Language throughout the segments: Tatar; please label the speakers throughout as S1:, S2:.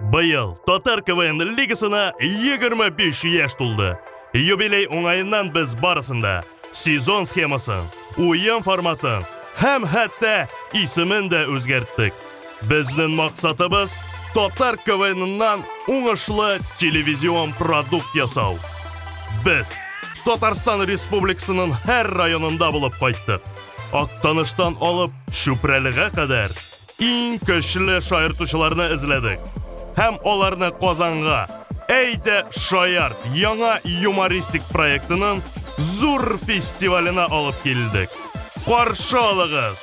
S1: Быел Татар КВН лигасына 25 яшь тулды. Юбилей уңаеннан без барысында сезон схемасын, уен форматын һәм хәтта исемен дә үзгәрттек. Безнең максатыбыз татар КВНнан уңышлы телевизион продукт ясау. Без Татарстан Республикасының һәр районында булып кайттык. Актаныштан алып Чүпрәлегә кадәр иң көчле шаяртучыларны эзләдек һәм аларны Казанга Әйдә шаярт яңа юмористик проектының зур фестиваленә алып килдек. Каршы алыгыз!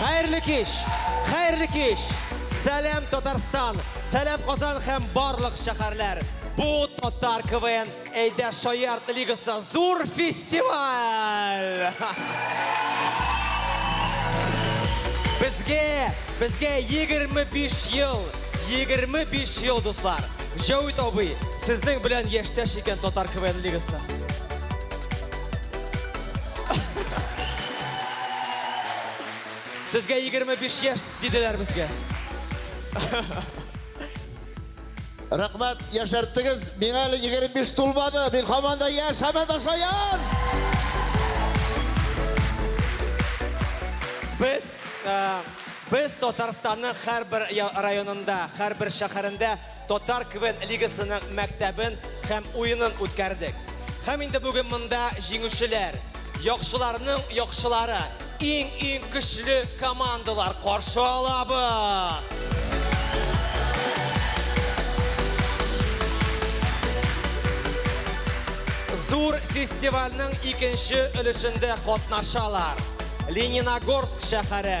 S2: Хәерле кич! Хәерле кич! Сәлам Татарстан! Сәлам Казан һәм барлык шәһәрләр! Бу Татар КВН Әйдә шаярт лигасы зур фестиваль! Безгә, безгә 25 ел, 25 ел, дуслар! Җәвит абый, сезнең белән яшьтәш икән Татар КВН лигасы. Сезгә 25 яшь диделәр безгә.
S3: Рәхмәт, яшәрттегез. Миңа әле 25 тулмады. Мин һаман да яшь, һаман да шаян!
S2: Без э, без Татарстанның һәрбер районында, һәрбер шәһәрендә Татар КВН лигасының мәктәбен һәм уенын үткәрдек. Һәм инде бүген монда җиңүчеләр, яхшыларның яхшылары, иң-иң көчле командалар каршы алабыз! Зур фестивальнең икенче өлешендә катнашалар Лениногорск шәһәре,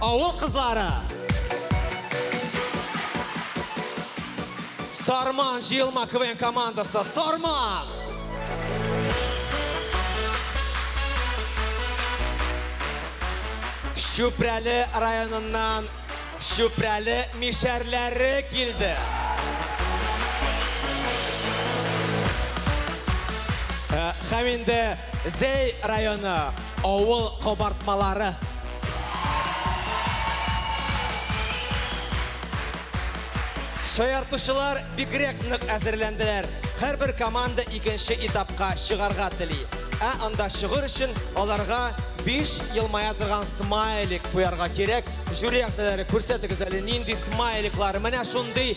S2: Авыл кызлары! Сарман, җыелма, КВН командасы, Сарман! Чүпрәле районыннан Чүпрәле мишәрләре килде. Һәм инде Зәй районы. Авыл кабартмалары. Шаяртучылар бигрәк нык әзерләнделәр. Һәрбер команда икенче этапка чыгарга тели. Ә анда чыгыр өчен аларга 5 елмая торган смайлик куярга кирәк. Жюри әгъзалары күрсәтегез әле нинди смайликлар. Менә шундый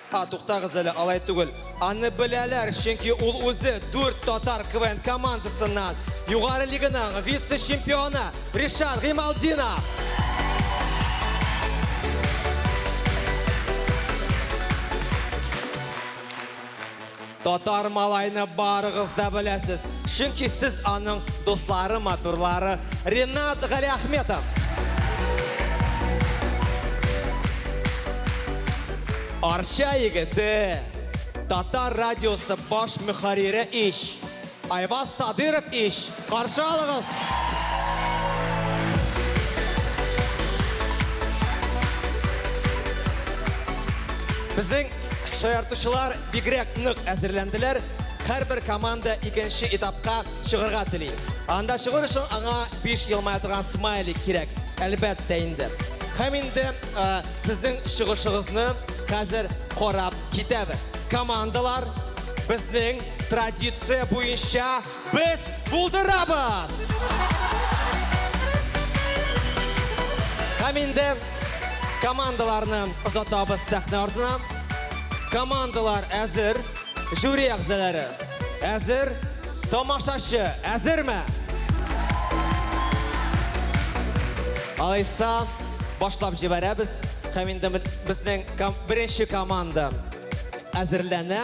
S2: А, туктагыз әле, алай түгел. Аны беләләр, чөнки ул үзе дүрт татар КВН командасыннан Югары лиганың вице-чемпионы Ришат Гыймалдинов. Татар малайны барыгыз да беләсез, чөнки сез аның дуслары, матурлары. Ренат Галиәхметов! Арча егете, Татар радиосы баш мөхәррире ич! Айваз Садыров ич! Каршы алыгыз! Безнең шаяртучылар бигрәк нык әзерләнделәр. Һәрбер команда икенче этапка чыгарга тели. Анда чыгыр өчен аңа 5 елмая торган смайлик кирәк. Әлбәттә инде. Һәм инде э, сезнең чыгышыгызны хәзер карап китәбез. Командалар безнең Традиция буенча без булдырабыз! Һәм инде командаларны озатабыз сәхнә артына. Командалар әзер, жюри әгъзалары әзер, тамашачы әзерме? Алайса, башлап җибәрәбез. Һәм инде безнең беренче команда әзерләнә.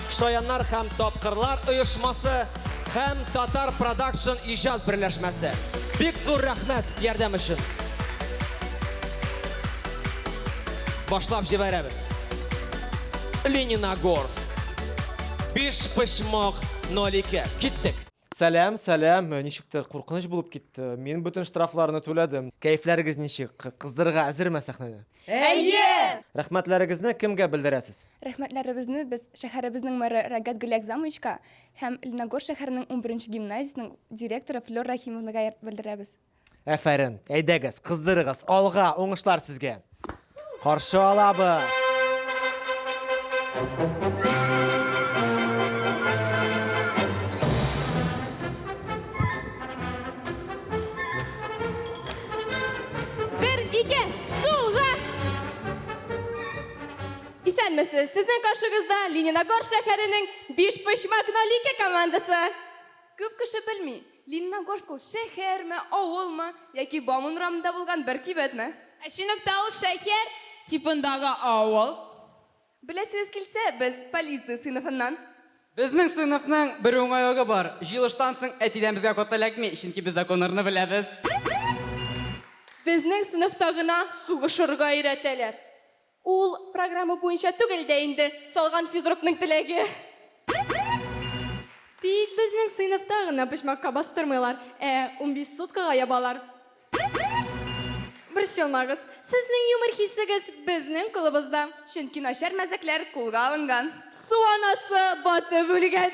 S2: Шаяннар һәм тапкырлар оешмасы һәм Татар Продакшн иҗат берләшмәсе. Бик зур рәхмәт ярдәм өчен. Башлап җибәрәбез. Лениногорск. Биш почмак 02. Киттек. Сәлам, сәлам. Ничектер куркыныч булып китте. Мин бөтен штрафларны түләдем. Кәефләрегез ничек? Кы- Кыздырырга әзерме сәхнәне? Әйе!
S4: Рәхмәтләрегезне
S2: кемгә белдерәсез? Рәхмәтләребезне без
S4: шәһәребезнең мэры Рагат Гөлиакзамовичка һәм Леногорск шәһәренең унберенче гимназиясенең директоры Флёр Рахимовнага белдерәбез. Әфәрен.
S2: Әйдәгез, кыздырыгыз. Алга, уңышлар сезгә. Каршы алабыз.
S5: Бер, ике, сулга! Исәнмесез, сезнең каршыгызда Лениногор шәһәренең биш почмак нолике командасы. Күп кеше
S4: белми, Лениногорск ул шәһәрме, авылмы, яки Бауман урамында булган бер кибетме? Ә Чыныкта ул
S5: шәһәр типындагы авыл. Беләсегез
S4: килсә, без полиция сыйныфыннан. Безнең
S6: сыйныфның бер уңайлыгы бар, җыелыштан соң әтидән безгә код эләкми, чөнки без законнарны беләбез.
S4: Безнең сыйныфта гына сугышырга өйрәтәләр. Ул программа буенча түгел дә инде, салган физрукның теләге.
S5: Тик безнең сыйныфта гына почмакка бастырмыйлар, ә унбиш суткага ябалар. Борчылмагыз, сезнең юмор хисегез безнең кулыбызда. Чөнки начар мәзәкләр кулга алынган. Су анасы
S4: батып үлгән.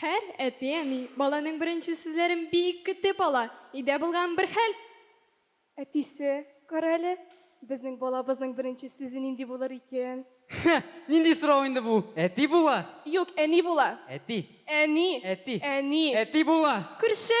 S5: Һәр әти-әни баланың беренче сүзләрен бик көтеп ала. Өйдә булган бер хәл. Әтисе,
S4: Кара әле, безнең балабызның беренче сүзе нинди булыр икән? Хе, нинди
S6: сорау инде бу? Әти була! Юк, әни була.
S4: Әти. Әни.
S6: Әти.
S4: Әни.
S6: Әти була! Күрше!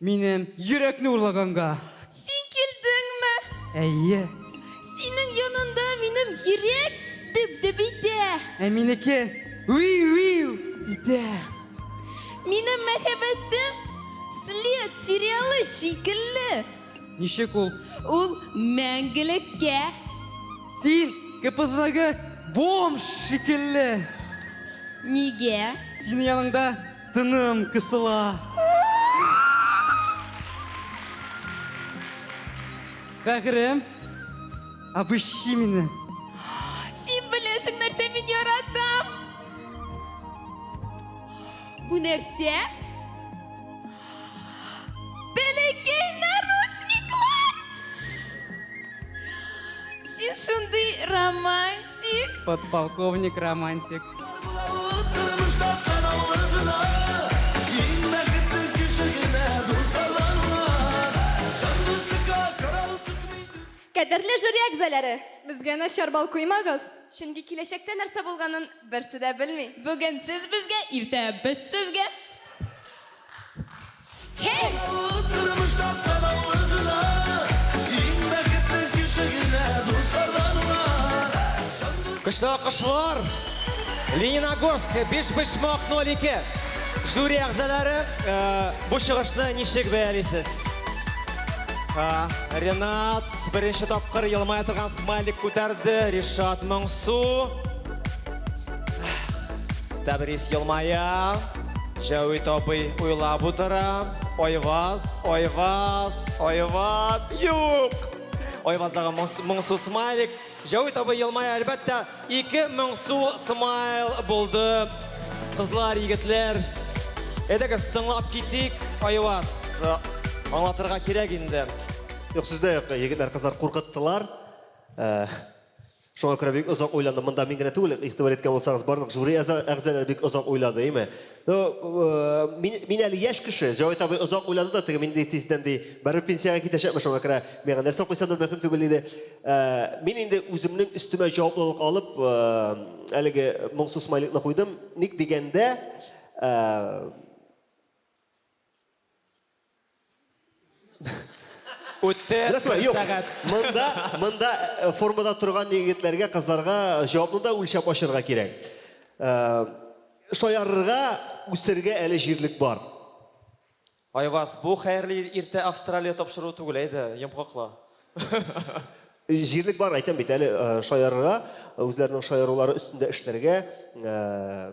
S5: Минем
S6: йөрәкне урлаганга. Син
S5: килдеңме? Әйе.
S6: Синең
S5: янында минем йөрәк дөп-дөп итә. Ә минеке
S6: виу-виу итә.
S5: Минем мәхәббәтем След сериалы шикелле. Ничек
S6: ул? Ул
S5: мәңгелеккә.
S6: Син КПЗдагы бомж шикелле.
S5: Нигә? Синең яныңда.
S6: Тыным кысыла. Бәгырем. Обыщи мине. Син
S5: беләсең нәрсә мин яратам. Бу нәрсә? Бәләкәй наручниклар! Син шундый романтик! Подполковник
S6: романтик.
S7: Кадерле жюри әгъзаләре! Безгә начар бал куймагыз! Чөнки киләчәктә
S4: нәрсә булганын берсе дә белми. Бүген сез безгә,
S5: иртә без сезгә.
S2: Көчле алкышлар! Лениногорск, Бишбишмак 02. Жюри әгъзалары, э, бу чыгышны ничек бәялисез? Э, Ренат, беренче тапкыр елмая торган смайлик күтәрде. Ришат Моңсу. Тәбрис елмая. Җәвит абый уйлап утыра. Айваз, Айваз, Айваз. Юк! Айваздагы моңсу смайлик. Җәвит абый елмая, әлбәттә, ике моңсу смайл булды. Кызлар, егетләр, әйдәгез, тыңлап китик. Айваз, аңлатырга кирәк инде. Юк, сүз дә юк,
S8: егетләр, кызлар куркыттылар. Э, Шуңа күрә бик озак уйландым. Монда мин генә түгел, игътибар иткән булсагыз, барлык жюри әза, әгъзаләре бик озак уйлады, име? Ну, мин, мин әле яшь кеше, Җавит абый озак уйлады да, теге мин ди тиздән ди, барыбер пенсиягә китәчәкмен, шуңа күрә миңа нәрсә куйсам да мөһим түгел диде. Мин инде үземнең өстемә җаваплылык алып, әлеге моңсу смайликны куйдым. Ник дигәндә, Үтте Ярсуа, юк. сәгать. Монда, монда э, формада торган егетләргә, кызларга җавапны да үлчәп ачарга кирәк. Э, Шаярырга, үсәргә әле җирлек бар.
S2: Айваз, бу хәерле иртә Австралия тапшыруы түгел, әйдә, йомгакла.
S8: Җирлек бар, әйтәм бит, әле э, шаярырга, үзләренең шаярулары өстендә эшләргә. Э,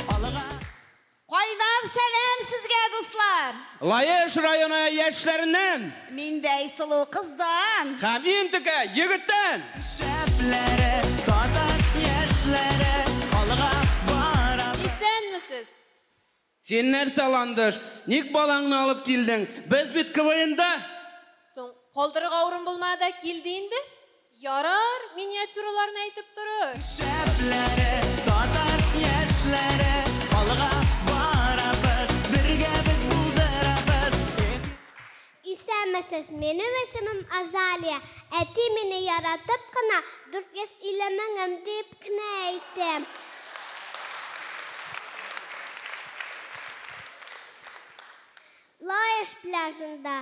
S9: Алыга! Кайдан
S7: сәлам сезгә, дуслар! Лаеш районы
S9: яшьләреннән! Миндәй
S7: сылу кыздан! Һәм иң текә
S9: егеттән! Шәпләре, татар яшьләре алга барабыз! Исәнмесез!
S10: Син
S9: нәрсә, Ландыш, ник балаңны алып килдең? Без бит КВНда! Соң,
S10: калдырырга урын булмады да килде инде? Ярар, миниатюраларны әйтеп торыр. Шәпләре,
S9: татар яшьләре, алга барабыз, бергә без булдырабыз, эх! Исәнмесез,
S11: минем исемем Азалия. Әти мине яратып кына 450 меңем диеп кенә әйтте. Лаеш пляжында.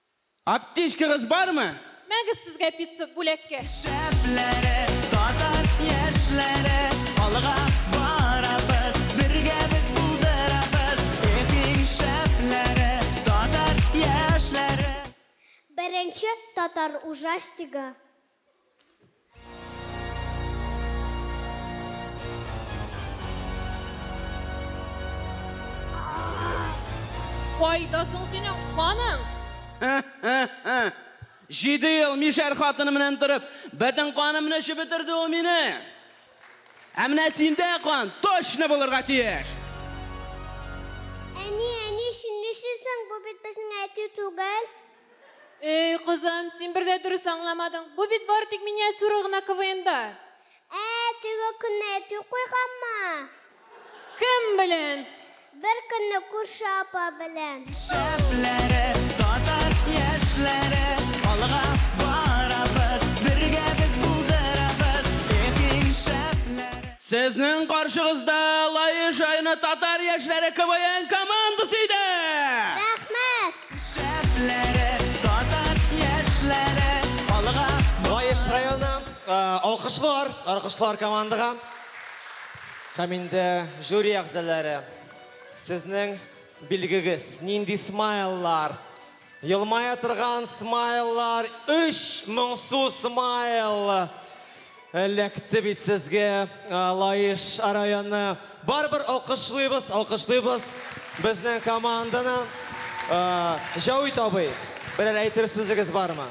S5: Аптечкагыз
S9: бармы? Мәгез сезгә
S5: пицца бүләккә! Шәпләре,
S9: татар яшьләре, алга барабыз, бергә без булдырабыз, эх иң шәпләре, татар яшьләре.
S11: Беренче татар ужастигы.
S5: Кайда соң синең каның?
S9: Җиде ел мишәр хатыны белән торып, бөтен канымны эчеп бетерде ул мине. Ә менә синдә кан точно булырга тиеш. Әни,
S11: әни, чынлыйсы соң, бу бит безнең әти түгел? Эй,
S5: кызым, син бер дә дөрес аңламадың. Бу бит бары тик миниатюра гына КВНда. Ә,
S11: теге көнне әти куйганмы? Кем
S5: белән? Бер көнне
S11: күрше апа белән. Шәпләре,
S9: татар яшьләре, алга барабыз, бергә без булдырабыз, эх и шәпләре. Сезнең каршыгызда Лаешайны татар яшьләре КВН командасы иде! Рәхмәт!
S11: Шәпләре,
S9: татар яшьләре, алга! Лаеш районы,
S2: алкышлар! Алкышлар командага! Һәм инде жюри әгъзаләре, сезнең билгегез, нинди смайллар? Елмая торган смайллар, өч моңсу смайл! Эләкте бит сезгә Лаеш районы. Барыбер алкышлыйбыз, алкышлыйбыз безнең команданы. Җәвит абый, берәр әйтер сүзегез бармы?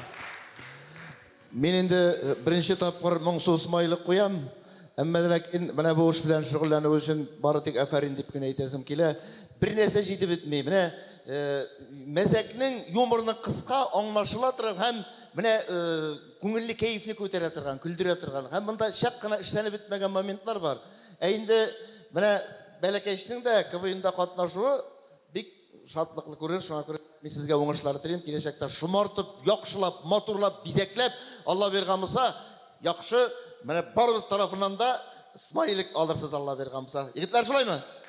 S3: Мин инде беренче тапкыр моңсу смайлик куям. Әмма дә ләкин менә бу эш белән шөгыльләнү өчен бары тик афәрин дип кенә әйтәсем килә. Бернәрсә җитеп бетми. Менә мәзәкнең, юморның кыска, аңлашыла торган һәм менә Күңелле, кәефне күтәрә торган, көлдерә торган. Һәм монда чак кына эшләнеп бетмәгән моментлар бар. Ә инде менә бәләкәчнең дә КВНда катнашуы бик шатлыклы күренеш, шуңа күрә мин сезгә уңышлар телим, киләчәктә шомартып, яхшылап, матурлап, бизәкләп, Алла биргән булса, яхшы, менә барыбыз тарафыннан да смайлик алырсыз, Алла биргән булса. Егетләр, шулаймы?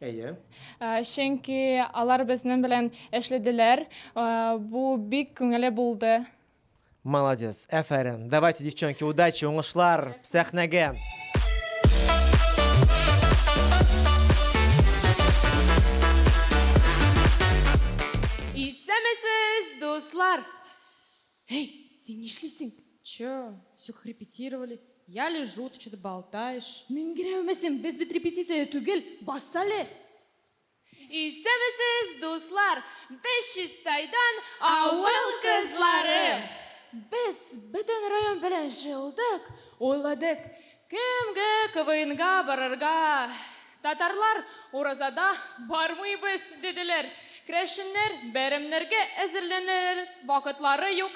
S12: Әйе. Ә, чөнки
S7: алар безнең белән эшләделәр. Ә, бу бик күңелле булды. Молодец,
S12: әфәрин. Давайте, девчонки, удачи, уңышлар, сәхнәгә.
S7: Исәмесез, дуслар! Эй, син нишлисең? Чё, всё как репетировали. Я лежу, ты что-то болтаешь. Меңгерәвемесең, без бит репетициядә түгел, бас әле! Исәнмесез, дуслар! Без Чистайдан, авыл кызлары! Без бөтен район белән җыелдык, уйладык, Кемгә КВНга барырга? Татарлар уразада бармыйбыз, диделәр. Крәшеннәр бәйрәмнәргә әзерләнер вакытлары юк,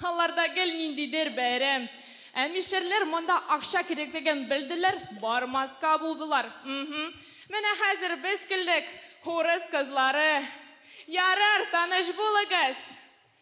S7: аларда гел ниндидер бәйрәм. Ә мишәрләр монда акча кирәклеген белделәр, бармаска булдылар. Мһм. Менә хәзер без килдек, урыс кызлары. Ярар, таныш булыгыз!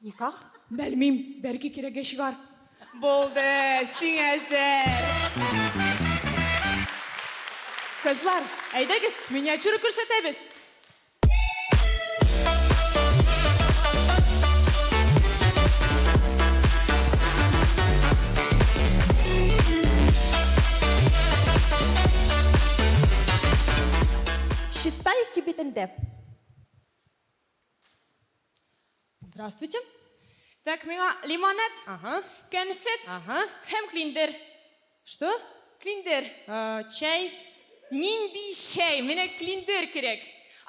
S13: Никах? Белмим,
S7: бәлки кирәге чыгар. Булды, сиңа әзер. Кызлар, әйдәгез, миниатюра күрсәтәбез.
S13: Чистай кибетендә.
S7: Здравствуйте. Так, миңа лимонад, Ага. конфет Ага. һәм клиндер. Что?
S13: Клиндер.
S7: Э, чәй.
S13: Нинди
S7: чәй? Менә клиндер кирәк.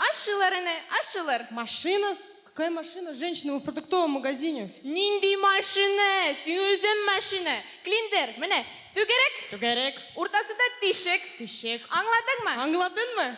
S7: Ашчылар әнә, ашчылар. Машина?
S13: Какая машина? Женщина, мы в продуктовом магазине. Нинди
S7: машина? Син үзең машина. Клиндер, менә, түгәрәк, Түгәрәк, уртасында тишек. тишек. Аңладыңмы? Аңладыңмы?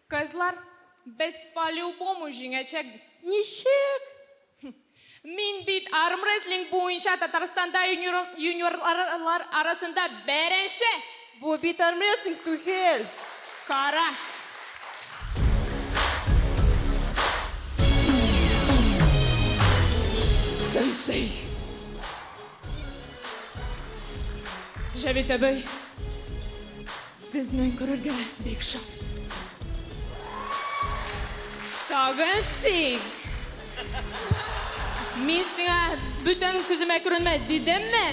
S7: Кызлар, без по-любому җиңәчәкбез! Ничек? Мин бит армрестлинг буенча Татарстанда юниорлар арасында беренче! Бу бит
S13: армрестлинг түгел! Кара!
S7: Сенсей! Җәвит әбей! Сезне күрергә бик шат. Тагын син. Мин сиңа бүтән күземә күренмә дидемме?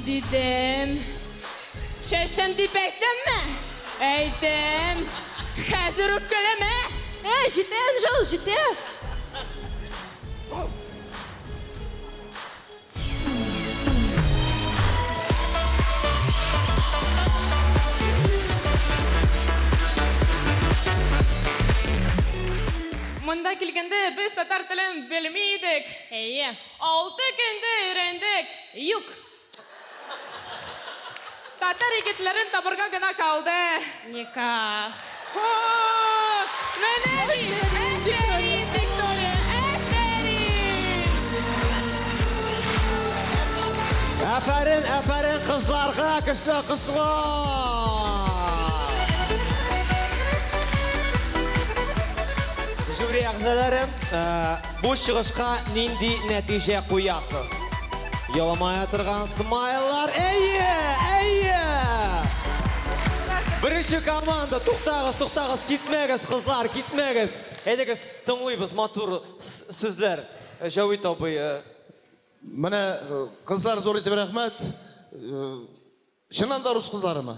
S7: Дидем. Чәчем дип әйттемме? Әйттем. Хәзер үк көләм, ә? Ә, җитә, Энҗел,
S13: җитә.
S7: Монда килгәндә без татар телен белми идек. Әйе. Алты көндә өйрәндек. Юк. Татар егетләрен табырга гына калды. Никах.
S13: О,
S7: менә ни! Әфәрин, Виктория, әфәрин! Әфәрин, әфәрин
S2: кызларга көчле алкышлар! Жюри әгъзалары, э, Бу чыгышка нинди нәтиҗә куясыз? Еламая торган смайлар. Әйе, әйе! Беренче команда, туктагыз, туктагыз, китмәгез, кызлар, китмәгез. Әйдәгез, тыңлыйбыз матур сүзләр. Э, Җавит абый. Э.
S3: Менә э, кызлар зур итеп рәхмәт. Чыннан да урыс кызларымы?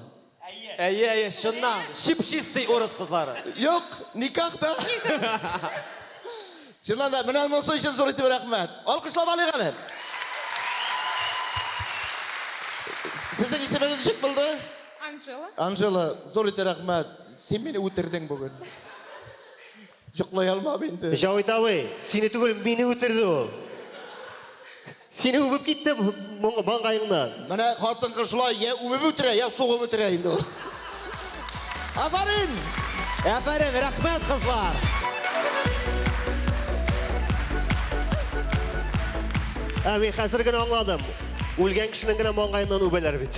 S3: Әйе, әйе,
S2: чыннан, чип-чистый урыс кызлары. Юк, никак
S3: та. Чыннан да, менә монысы өчен зур итеп рәхмәт. Алкышлап алыйк әле. Сезнең исемегез ничек булды? Анжела.
S7: Анжела, зур
S3: итеп рәхмәт. Син мине үтердең бүген. Йоклый алмам инде. Җавит абый, сине
S8: түгел, мине үтерде ул. Сине үбеп китте маңгаеңнан. Менә хатын-кыз
S3: шулай я үбеп үтерә, я сугып үтерә инде ул. Афәрин! Афәрин,
S2: рәхмәт, кызлар!
S8: Ә мин хәзер генә аңладым. Үлгән кешенең генә маңгаеннан үбәләр бит.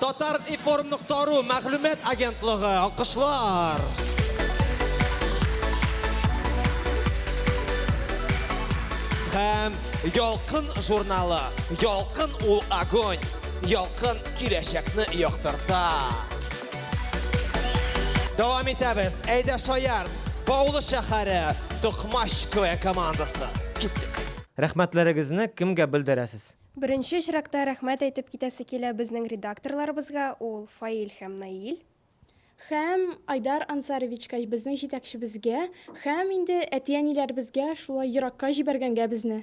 S2: Татар-информ нокта ру мәгълүмат агентлыгы, алкышлар! Һәм Ялкын журналы. Ялкын ул огонь. Ялкын киләчәкне яктырта. Дәвам итәбез. Әйдә шаяр. Баулы шәһәре Токмач КВ командасы. Киттек. Рәхмәтләрегезне
S12: кемгә белдерәсез? Беренче очракта
S4: рәхмәт әйтеп китәсе килә безнең редакторларыбызга, ул Фаил һәм Наил. Һәм
S7: Айдар Ансаровичка, безнең җитәкчебезгә, һәм инде әти-әниләребезгә, шулай еракка җибәргәнгә безне.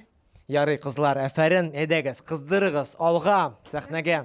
S7: Ярый, кызлар,
S12: әфәрен, әйдәгез, кыздырыгыз, алга, сәхнәгә!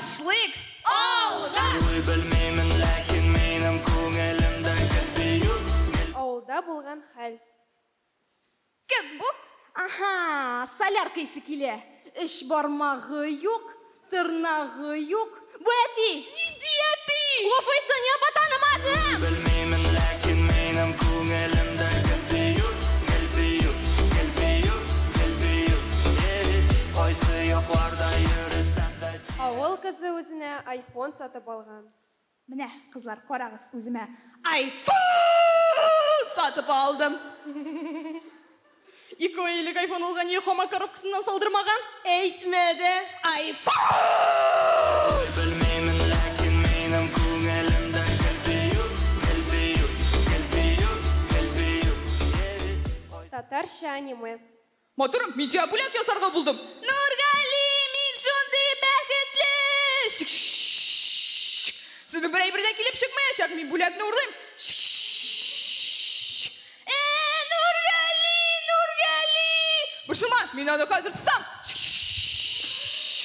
S5: башлыйк! Алга! Уйлый белмимен, ләкин минем күңелемдә
S7: гел бию. Авылда булган хәл.
S5: Кем бу? Аһа,
S7: солярка исе килә. Өч бармагы юк, тырнагы юк. Бу әти! Нинди әти?
S5: Глупый Соня ба танымадым! Белмимен, ләкин минем күңелемдә гел бию, гел бию, гел бию,
S10: гел бию, е-е, кайсы якларда йөресәм дә тиен. Авыл кызы үзенә айфон сатып алган. Менә,
S7: кызлар, карагыз, үземә айфон сатып алдым! Ике ай элек айфон алган ие хаман коробкасыннан салдырмаган! Әйтмә дә! Айфон! Белмеймен, ләкин минем күңелемдә гел бию,
S10: гел бию, гел бию, гел бию, йери-йери кайсы. Татарча аниме. Матурым, мин
S7: сиңа бүләк ясарга булдым. Нургали,
S5: мин шундый бәхетле! Шш-ш-ш-ш-ш!
S7: Сезнең бер әйбер дә килеп чыкмаячак, мин бүләкне урлыйм. Шш-ш-ш-ш-ш! Э-э,
S5: Нургали, Нургали! Борчылма,
S7: мин аны хәзер тотам. Шш-ш-ш-ш-ш-ш!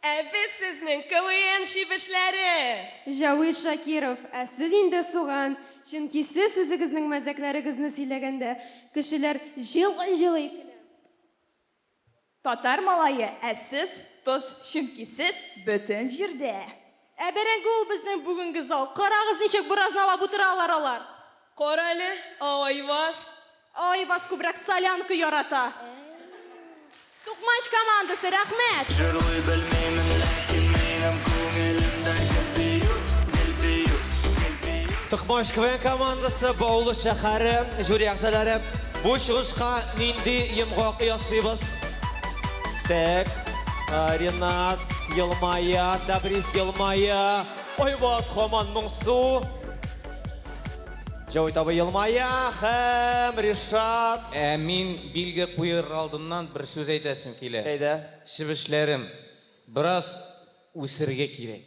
S14: Ә без сезнең КВН чебешләре! Җәвит Шакиров,
S10: Ә сез инде суган, чөнки сез үзегезнең мәзәкләрегезне сөйләгәндә, кешеләр җылый-җылый көлә.
S7: Татар малае, Ә сез тоз, чөнки сез бөтен җирдә. Ә бәрәңге ул безнең бүгенге зал. Карагыз, ничек буразналап утыралар алар. Кара әле,
S14: ә Айваз? Ә Айваз
S7: күбрәк солянка ярата. Тукмач командасы, рәхмәт! Җырлый белмимен,
S15: ләкин минем күңелемдә гел бию, гел бию, гел бию.
S2: Тукмач КВН командасы, Баулы шәһәре, жюри әгъзалары, бу чыгышка нинди йомгак ясыйбыз? Тәк. Ренат елмая, Табрис елмая. Айбаз хаман моңсу. Җавит абый елмая һәм Ришат. Ә мин билге
S16: куер алдыннан бер сүз әйтәсем килә. Әйдә. Чебешләрем, бераз үсергә кирәк.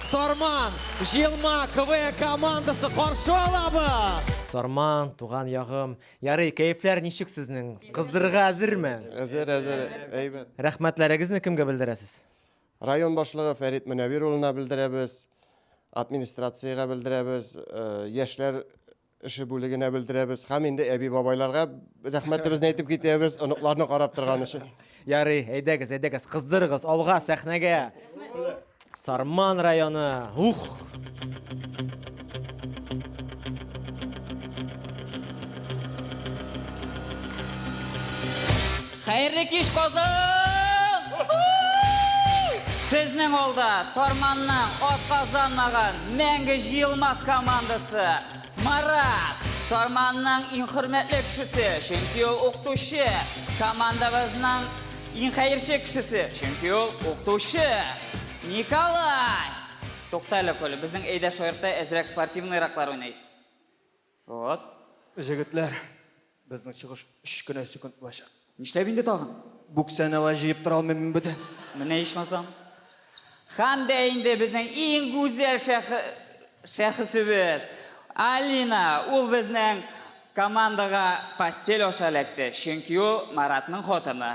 S2: Сарман, җыелма, КВН командасы каршы алабыз! Сарман,
S12: туган ягым. Ярый, кәефләр ничек сезнең? Кыздырырга әзерме? Әзер, әзер,
S17: әйбәт. Рәхмәтләрегезне
S12: кемгә белдерәсез? Район
S17: башлыгы Фәрит Мөнәвир улына белдерәбез, администрациягә белдерәбез, э, яшьләр эше бүлегенә белдерәбез һәм инде әби-бабайларга рәхмәтебезне әйтеп китәбез, оныкларны карап торган өчен. Ярый, әйдәгез,
S12: әйдәгез, кыздырыгыз, алга, сәхнәгә. Сарман районы. Ух!
S18: Хәерле кич Казан! Сезнең алда Сарманның атказанмаган мәңге җыелмас командасы! Марат! Сарманның иң хөрмәтле кешесе, чөнки ул укытучы! Командабызның иң хәерче кешесе, чөнки ул укытучы! Николай! Тукта әле, Коля, безнең Әйдә шаярта әзрәк спортивныйраклар уйный. Вот. Җегетләр,
S8: безнең чыгыш өч кенә секунд булачак. Нишләп инде тагын?
S18: Бүксәне алай
S8: җыеп тора алмыйм мин бүтән. Менә ичмасам.
S18: Хәм дә инде безнең иң гүзәл шәх... шәхесебез. Алина, ул безнең командага постель аша эләкте, чөнки ул Маратның хатыны.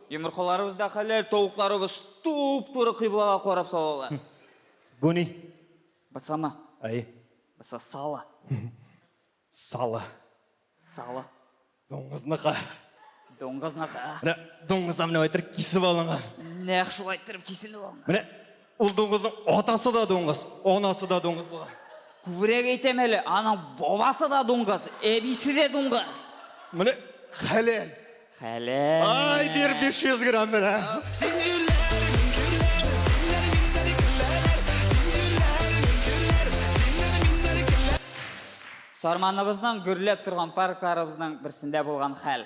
S8: Йомыркаларыбыз
S18: да хәләл, тавыкларыбыз туп-туры кыйблага карап салалар. Бу ни?
S8: Бысама.
S18: Әйе.
S8: Быса сала. Сала.
S18: Сала. Дуңгызныкы. Дуңгызныкы. Менә
S8: дуңгыздан менә әйтер кисеп алынган. Нәкъ шулай иттереп
S18: киселеп алынган. Менә Ул
S8: дуңгызның атасы да дуңгыз, анасы да дуңгыз була. Күбрәк әйтәм
S18: әле, аның бабасы да дуңгыз, әбисе дә дуңгыз. Менә
S8: хәләл. Хәләл.
S18: Ай, бир 500
S8: грамм менә.
S18: Сарманыбызның гөрләп торган паркларыбызның берсендә булган хәл.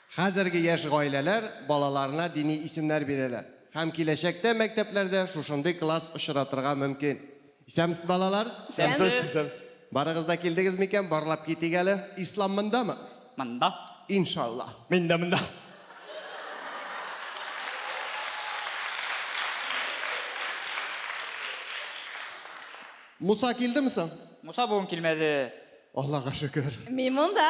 S17: Хәзерге яшь гаиләләр балаларына дини исемнәр бирәләр һәм киләчәктә мәктәпләрдә шушындый класс очратырга мөмкин. Исәнмсез, балалар! Исәнмесез!
S8: Барыгыз да
S17: килдегез микән, барлап китик әле. Ислам мондамы? Монда.
S18: Иншалла.
S17: Мин дә монда. Муса килдеме соң? Муса бүген килмәде.
S18: Аллага шөкер.
S17: Мин монда.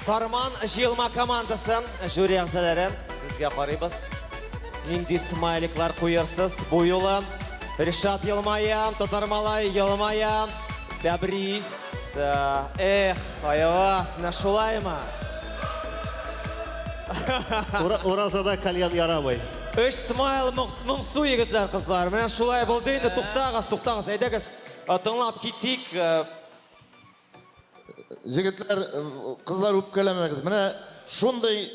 S2: Сарман җыелма командасы, жюри әгъзаләре, сезгә карыйбыз. Нинди смайликлар куерсыз бу юлы? Ришат елмая, Татар малай елмая, Тәбрис, э, эх, аягас, менә шулаймы?
S8: Уразада кальян ярамый. Өч смайл
S2: моңсу егетләр, кызлар. Менә шулай булды инде, туктагыз, туктагыз, әйдәгез, э, тыңлап китик. Э,
S3: Егетләр, кызлар үпкәләмәгез. Менә шундый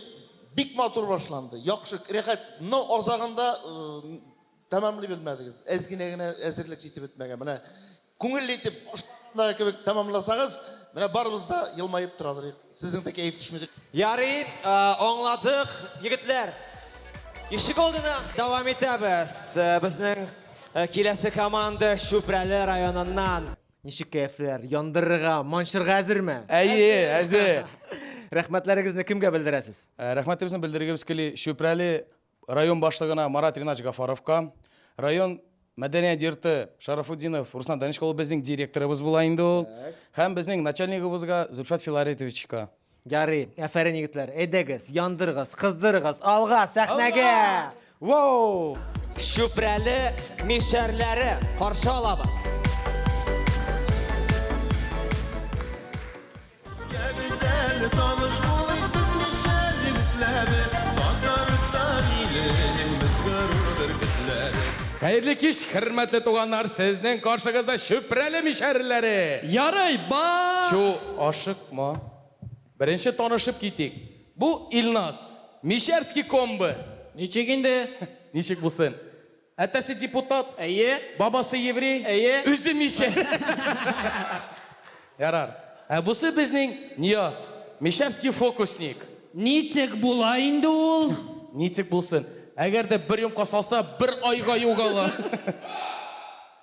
S3: бик матур башланды. Яхшы, рәхәт. Но азагында э, тәмамлый белмәдегез. Әз генә генә әзерлек җитеп бетмәгән. Менә күңелле итеп башлаганда кебек тәмамласагыз, менә барыбыз да елмаеп тора алырык. Сезнең дә кәеф төшмәде. Ярый, э,
S2: аңладык, егетләр. Ишек алдына дәвам итәбез. Э, Безнең э, киләсе команда Чүпрәле районыннан. Ничек кәефләр?
S12: Яндырырга, манчырга әзерме? Әйе, әзер.
S19: Рәхмәтләрегезне кемгә белдерәсез? Ә,
S12: Рәхмәтебезне
S19: белдергебез кили
S12: Чүпрәле
S19: район башлыгына Марат Ринатович Гафаровка. Район мәдәният йорты Шарафутдинов Руслан Данечка ул безнең директорыбыз була инде ул. Һәм безнең начальнигыбызга Зөлфәт Филаретовичка. Ярый,
S12: әфәрин егетләр, әйдәгез, яндырыгыз, кыздырыгыз, алга, сәхнәгә! Воу! Чүпрәле
S2: мишәрләре каршы алабыз.
S19: Хәерле кич, хөрмәтле туганнар, сезнең каршыгызда Чүпрәле мишәрләре! Ярый, ба!
S9: Чу, ашык.
S19: Ма. Беренче танышып китик. Бу Илназ. Мещерский комбы. Ничек инде?
S9: Ничек булсын.
S19: Әтәсе депутат. Әйе. Бабасы
S9: еврей.
S19: Әйе. Үзе мишәр. Ярар. Ә бусы безнең Нияз. Мещерский фокусник. Ничек
S9: була инде ул? Ничек булсын.
S19: Әгәр дә бер йомка салса, бер айга югала.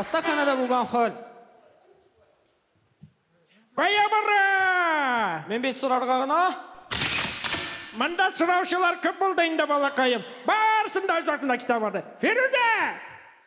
S9: Хастаханәдә булган хәл. Кая бара? Мин бит сорарга гына. Монда сораучылар күп булды инде, балакаем. Барсын да үзләренә китә барды. Фирүзә!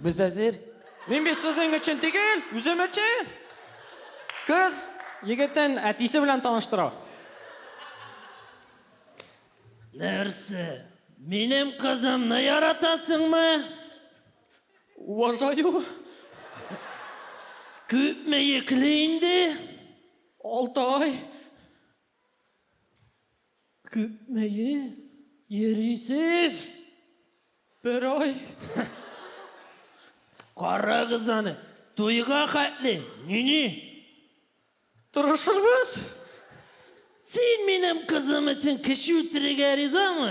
S19: Без әзер. Мин бит сезнең
S9: өчен түгел, үзем өчен. Кыз егетен әтисе белән таныштыра. Нәрсә? Минем кызымны яратасыңмы? Уважаю. Күпме йөкле инде? Алты ай. Күпмее йөрисез? Бер ай. Карагыз аны, туйга хәтле, нини? Тырышырбыз. Син минем кызым өчен кеше үтерергә ризамы?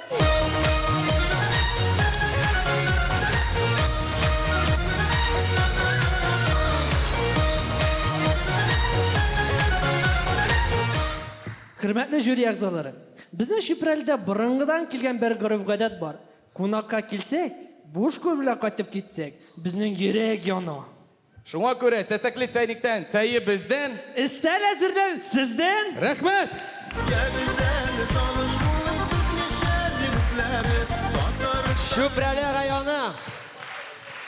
S9: Хөрмәтле жюри әгъзалары, безнең Чүпрәлдә борынгыдан килгән бер гореф-гадәт бар. Кунакка килсәк, буш кул белән кайтып китсәк, безнең йөрәк яна. Шуңа күрә
S19: цәцәкле чәйниктән чәе бездән. Өстәл әзерләү
S9: сездән. Рәхмәт!
S19: Кәбестәле таныш булу безнеша
S2: егетләре, татарстан. Чүпрәле районы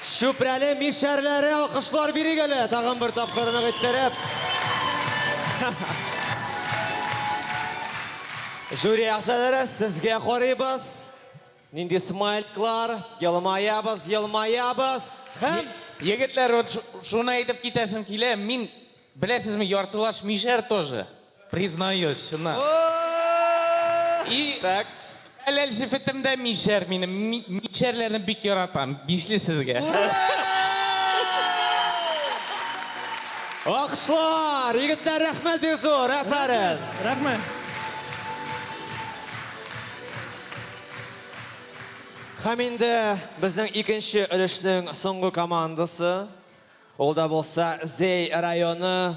S2: Чүпрәле мишәрләре алкышлар бирик әле тагын бер тапкыр нык иттереп. Жюри әгъзалары, сезгә карыйбыз. Нинди смайльклар, елмаябыз, елмаябыз һәм. Егетләр,
S16: вот шуны әйтеп китәсем килә, мин, беләсезме, яртылаш мишәр тоже, признаюсь, чыннан. И хәләл җефетем дә мишәр минем, мишәрләрне бик яратам, бишле сезгә.
S2: Алкышлар! Егетләр, рәхмәт бик зур,
S9: афәрин! Рәхмәт!
S2: Һәм инде безнең икенче өлешнең соңгы командасы. Ул да булса Зәй районы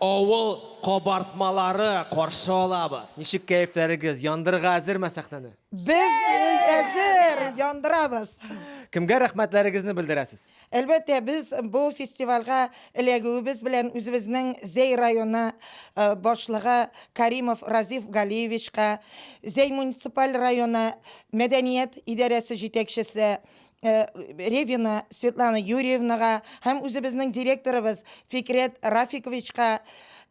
S2: авыл кабартмалары каршы алабыз. Ничек кәефләрегез,
S12: яндырырга әзерме сәхнәне? Без
S20: әзер, яндырабыз! Кемгә
S12: рәхмәтләрегезне белдерәсез? Әлбәттә, без
S20: бу фестивальгә эләгүебез белән үзебезнең Зәй районы башлыгы Каримов Разиф Галиевичка, Зәй муниципаль районы мәдәният идарәсе җитәкчесе Ревина Светлана Юрьевнага һәм үзебезнең директорыбыз Фикрәт Рафиковичка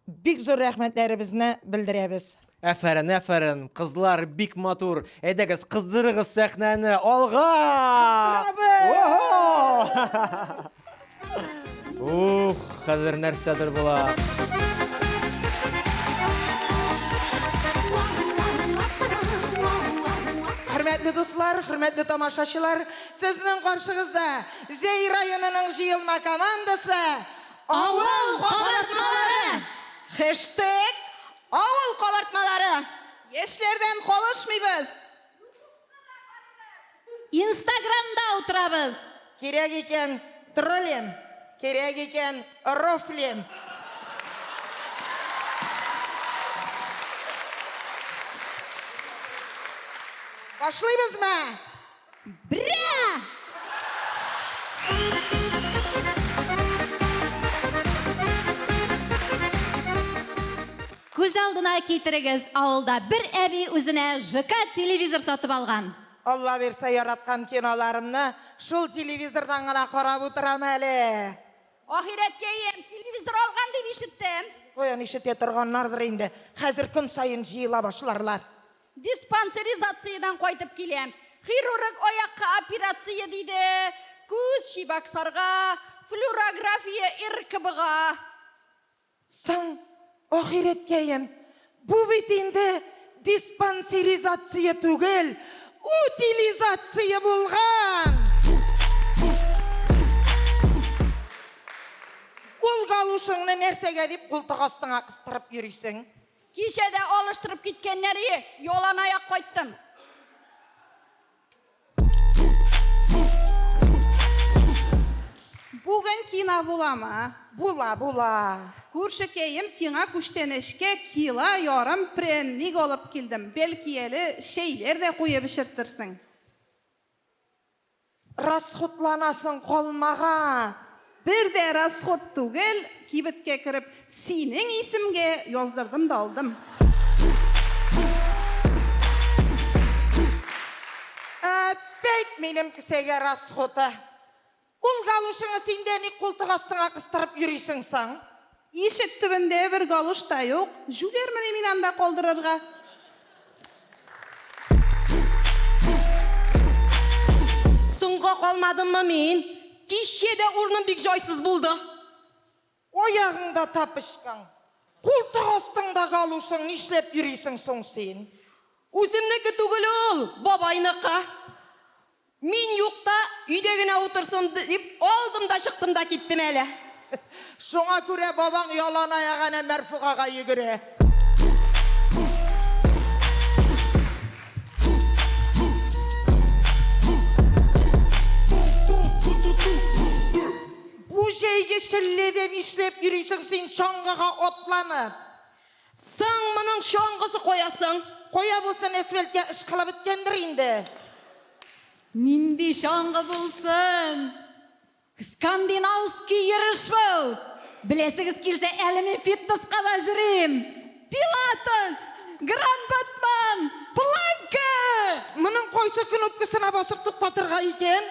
S20: бик зур рәхмәтләребезне белдерәбез. Әфәрен, әфәрен,
S12: кызлар бик матур. Әйдәгез, кыздырыгыз сәхнәне. Алга! Кыздырабыз! Ух, хәзер нәрсәдер була.
S20: Хөрмәтле дуслар, хөрмәтле тамашачылар, сезнең каршыгызда Зәй районының җыелма командасы Авыл
S14: кабартмалары! Хэштег Авыл кабартмалары. Яшьләрдән
S20: калышмыйбыз. Ютубка да карыйбыз.
S14: Инстаграмда утырабыз. Кирәк икән,
S20: троллим. Кирәк икән, рофлим. Башлыйбызмы?
S14: Бря! Күз алдына китерегез, авылда бер әби үзенә ЖК телевизор сатып алган. Алла бирсә,
S20: яраткан киноларымны шул телевизордан гына карап утырам әле. Ахирәткәем,
S14: телевизор алган дип ишеттем. Каян ишетә
S20: торганнардыр инде, хәзер көн саен җыела башларлар. Диспансеризациядән
S14: кайтып киләм. Хирург аякка операция диде, күз чибаксарга, флюрография РКБга.
S20: Соң, ахирәткәем, бу бит инде диспансеризация түгел, утилизация булган! Ул галушыңны нәрсәгә дип култык астыңа кыстырып йөрисең? Кичә дә
S14: алыштырып киткәннәр ие, яланаяк кайттым.
S21: Бүген кина буламы? Була, була.
S20: Күршекәем,
S21: сиңа күчтәнәчкә кила ярым прәнник алып килдем, бәлки әле чәйләр дә куеп эчерттерсең.
S20: Расходланасың калмаган! Бер дә
S21: расход түгел, кибеткә кереп, синең исемгә яздырдым да алдым.
S20: Әппәйт минем кесәгә расходы! Ул галушыңы син дә ник култык астыңа кыстырып йөрисең соң? Ишек
S21: төбендә бер галош та юк, җүләрмени мин анда калдырырга?
S14: Соңга калмадыммы мин? Кичә дә урыным бик җайсыз булды.
S20: Аягыңда тапочкаң, култык астыңда галошың, нишләп йөрисең соң син? Үземнеке
S14: түгел ул, бабайныкы. Мин юкта өйдә генә утырсын дип алдым да чыктым да киттем әле. Шуңа
S20: күрә бабаң яланаяк әнә Мәрфугага йөгерә. Бу җәйге челләдә нишләп йөрисең син чаңгыга атланып? Соң
S14: моның чаңгысы кая соң? Кая булсын,
S20: әсфәлткә ышкылып беткәндер инде.
S14: Нинди чаңгы булсын? Скандинавский йөреш бу! Беләсегез килсә, әле мин фитнеска да йөрим! Пилатес! Гранд-батман! Планка! Моның кайсы
S20: кнопкасына басып туктатырга икән?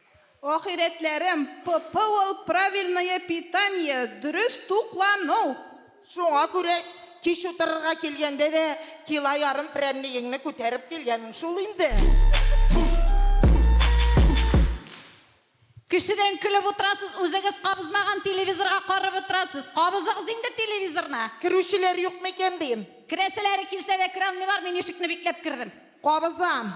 S21: Ахирәтләрем, ПП ул правильное питание, дөрес туклану! Шуңа
S20: күрә кич утырырга килгәндә дә кило ярым прәннегеңне күтәреп килгәнең шул инде.
S1: Кешедән көлеп утырасыз, үзегез кабызмаган телевизорга карап утырасыз. Кабызыгыз инде телевизорны! Керүчеләр юкмы
S20: икән дим. Керәселәре килсә дә
S1: кералмыйлар, мин ишекне бикләп кердем. Кабызам.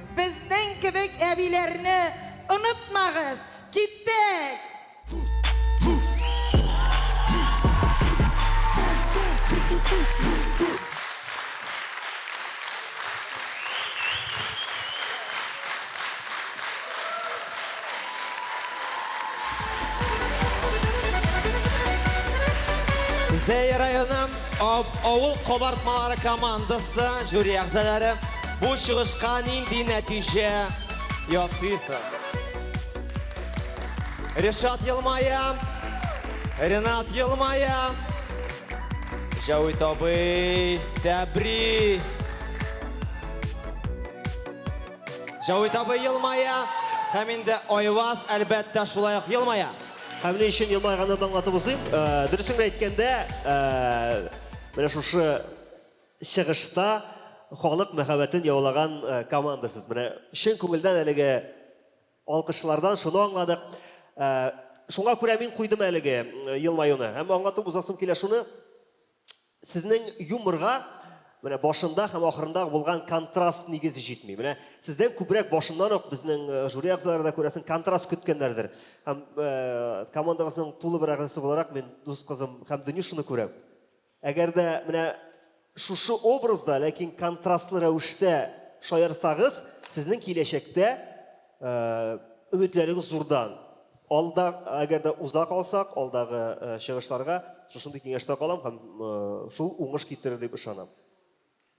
S20: Безнең кебек әбиләрне онытмагыз! Киттек!
S2: Зәй районы авыл кабартмалары командасы жюри әгъзалары Бу чыгышка нинди нәтиҗә ясыйсыз? Ришат елмая, Ренат елмая. Җәвит абый, тәбрис. Җәвит абый елмая, һәм инде Айваз, әлбәттә, шулай ук елмая. Һәм ни өчен
S8: елмайганын аңлатып узыйм. Э, Дөресен генә әйткәндә, э, менә шушы Чыгышта халык мәхәббәтен яулаган командасыз. Менә чын күңелдән әлеге алкышлардан шуны аңладык. Шуңа күрә мин куйдым әлеге елмаюны. Һәм аңлатып узасым килә шуны, сезнең юморга менә башында һәм ахырында булган контраст нигез җитми. Менә сездән күбрәк башыннан ук безнең жюри әгъзалары да күрәсең, контраст көткәннәрдер. Һәм командагызның тулы бер әгъзасы буларак мин дус кызым һәм Дөню шуны күрәм. Әгәр дә менә шушы образда, ләкин контрастлы рәвештә шаярсагыз, сезнең киләчәктә өметләрегез зурдан. Алда, әгәр дә уза калсак, алдагы чыгышларга шушындый киңәштә калам һәм шул уңыш китерер дип ышанам.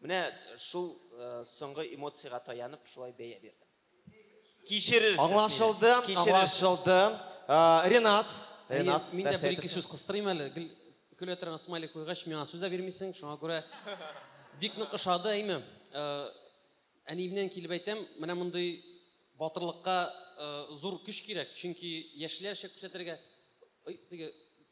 S22: Менә шул соңгы эмоциягә таянып шулай бәя бирдем. Кичерерсез мине. Аңлашылды,
S2: аңлашылды. Ренат, Ренат, нәрсә әйтәсең? Мин
S13: дә бер-ике сүз кыстырыйм әле. Гел көлә торган смайлик куйгач, миңа сүз дә бирмисең, шуңа күрә бик нык ошады, әйме. Әниемнән килеп әйтәм, менә мондый батырлыкка зур көч кирәк, чөнки яшьләрчә күрсәтергә, теге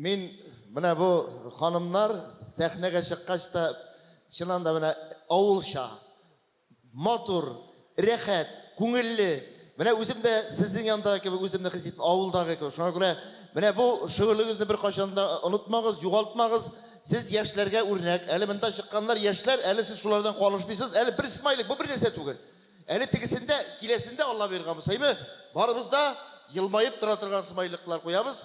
S3: Мин менә бу ханымнар сәхнәгә чыккач та чыннан да менә авылча, матур, рәхәт, күңелле, менә үзем дә сезнең яндагы кебек үземне хис иттем, авылдагы кебек. Шуңа күрә менә бу шөгылегезне беркайчан да онытмагыз, югалтмагыз. Сез яшьләргә үрнәк. Әле монда чыкканнар яшьләр, әле сез шулардан калышмыйсыз. Әле бер смайлик, бу бернәрсә түгел. Әле тегесендә, киләсендә Алла боерган булса, әйме, барыбыз да елмаеп тора торган смайликлар куябыз.